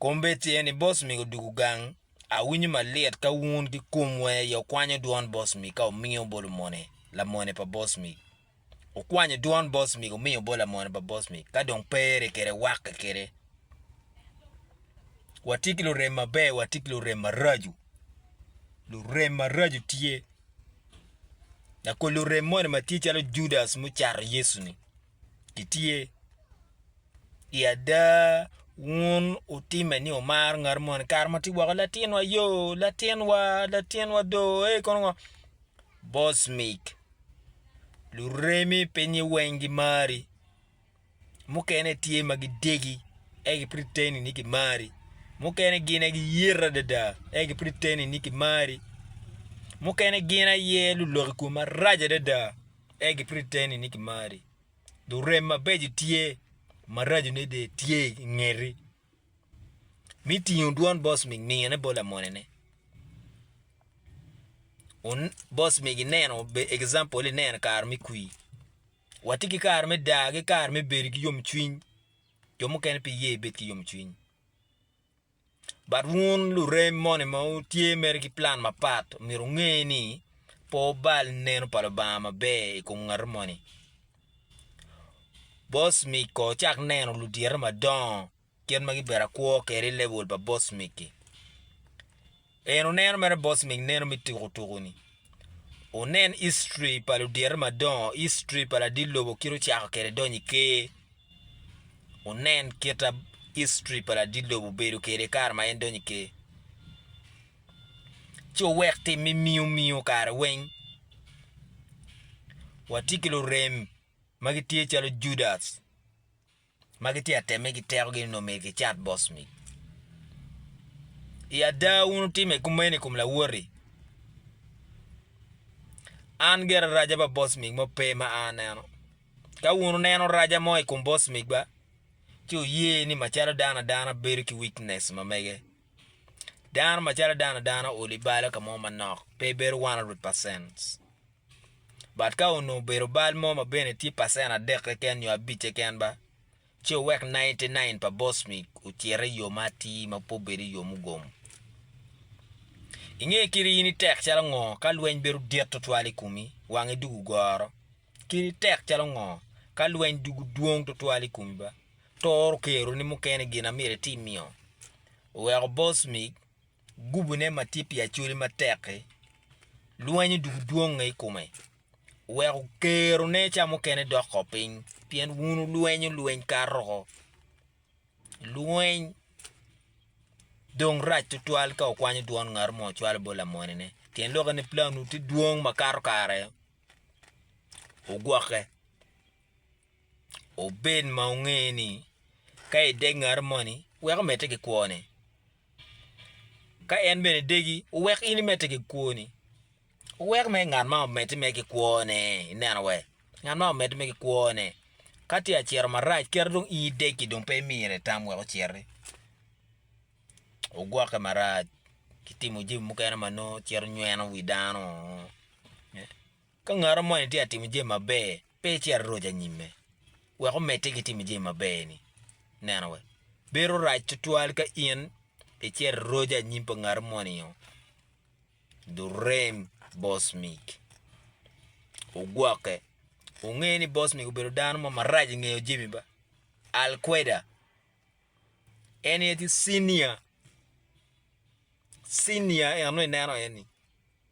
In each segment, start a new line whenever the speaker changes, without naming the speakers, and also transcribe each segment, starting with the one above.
Kombedce ni Bosmik odugu gang, awinyo malit ka wun ki komwa aye wukwanyo dwon Bosmik ka wumiyo obolo mone, lamone pa Bosmik. Wukwanyo dwon Bosmik wumiyo obolo lamone pa Bosmik, ka dong pe ere kede wakke kede. Watye ki lurem maber, watye ki lurem maraco. Lurem maraco tye. Lakol lurem moni ma tye calo Judas mucato Yecu-ni. gitye i ada wun wutimme ni wumaro ngat moni kare ma watye woko latinwa yo latinwa latinwa do ei kono ngo boss mic luremi pingnye weng gimari mukene tye ma gidegi ento ki pud giteni ni gimari mukene gin aye giyito adada ento ki pud giteni ni gimari mukene gin aye lulok i kom maraco adada. en gipritteni ni kimari, dong rem mabeco tye, maracone dong tye i ngeti. Mi tingo dwon boss mig ningone bot lamonene. Un boss mig ineno be example ineno kare me kwir. Watye ki kare me dar ki kare me bedo ki yomcwiny, jo mukene pe iye ibed ki yomcwiny. But wun lurem moni ma wutye mere ki plan mapat omyero wunge ni pe wubal neno pa Lubanga maber i kom ngati moni. Bocmik kono wucak neno ludite madongo kit ma gibedo akwo kwede i lebol pa bocmik-ki. En oneno mere boss ming neno me tuku tuku ni. Onen history pa ludyere madongo, history pa ladit lobo kit ocako kede donyo i ker. Onen kita history pa ladit lobo obedo kede kare ma en donyo i ker. Ci owek tim me miyo miyo kare weng. Watye ki lurem ma gitye calo Judas. ma gitye ka temme ki tekogi ni omyero gicat bot mit. I ada wun wutimme kumeno i kom lawoti. An gire raja pa bot mit mo pe ma an aneno. Ka wun wuneno raja mo i kom bot mitwa, ci wuye ni macalo dano adano bedo ki wicnec ma mege. Dano macalo dano adano oolo i balo ka mo manok pe bedo 100%. but ka onongo obedo bal mo ma bene tye pacent adek keken nyo abic keken ba ci owek ninety nine pa bosmik ocit iyo ma atir ma pe obedo iyo mugomo. Inge kadi in itek calo ngo ka lweny bedo dit twatwal i kumi wangi dong ogoro kadi itek calo ngo ka lweny dugu dwong twatwal i kumi ba toro kero ni mukene gin amyero iti miyo oweko bosmik gubune ma tye pi acholi matek-ki, lwenyo doko dwonge i kome, weko kerone ca mukene dok ko piny, pien wun wulwenyo lweny kato oko. Lweny dong rac twatwal ka wukwanyo dwon ngat mo cwalo bot lamonene, pien lokke ni planu tye dwong ma kato kare wugwokke. Wubed ma wunge ni ka idek ngat moni, wek omedde ki kwone. Ka en bene degi, wuwek in imedde ki kwoni. Wuwek mere ngat man omedde mere ki kwone. Ineno wee? Ngat man omedde mere ki kwone. Ka tye ka cito marac, kit ma dong in idegi dong pe imire itam wek ociti. Wugwokke marac ki timo jami mukene ma nongo cito nyweno wi dano. Ka ngati moni tye ka timo jami maber, Pe icit roc anyimme wek omedde ki timo jami maber-ni. Neno wa, bedo rac twatwal ka in icito roc anyim pa ngat omoni-o. Durem Bosmik ogwokke. Wunge ni Bosmik obedo dano mo marac i ngeyo jami ba. Alkweda, en aye tye cinia, cinia eno ineno en-ni.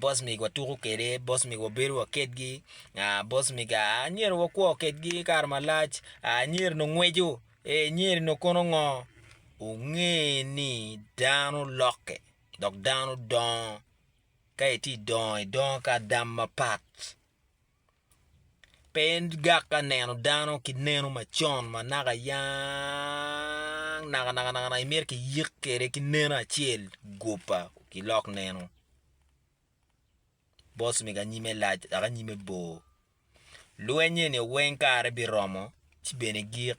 Boss mig watuko kwede, boss mig wabedo wa kedgi, boss mig anyira wakwo kedgi kare malac, anyira onongo ngweco, anyira onongo kono ngo, wunge ni dano lokke dok dano dongo ka itye dongo idongo ki adam mapat. Pe en gak ka neno dano ki neno macon ma naka yang nakanaka imito ki yik kwede ki neno acel gupa ki lok neno boss mego anyime lac dok anyime bor lweny eni weng kare biromo ci bene gik.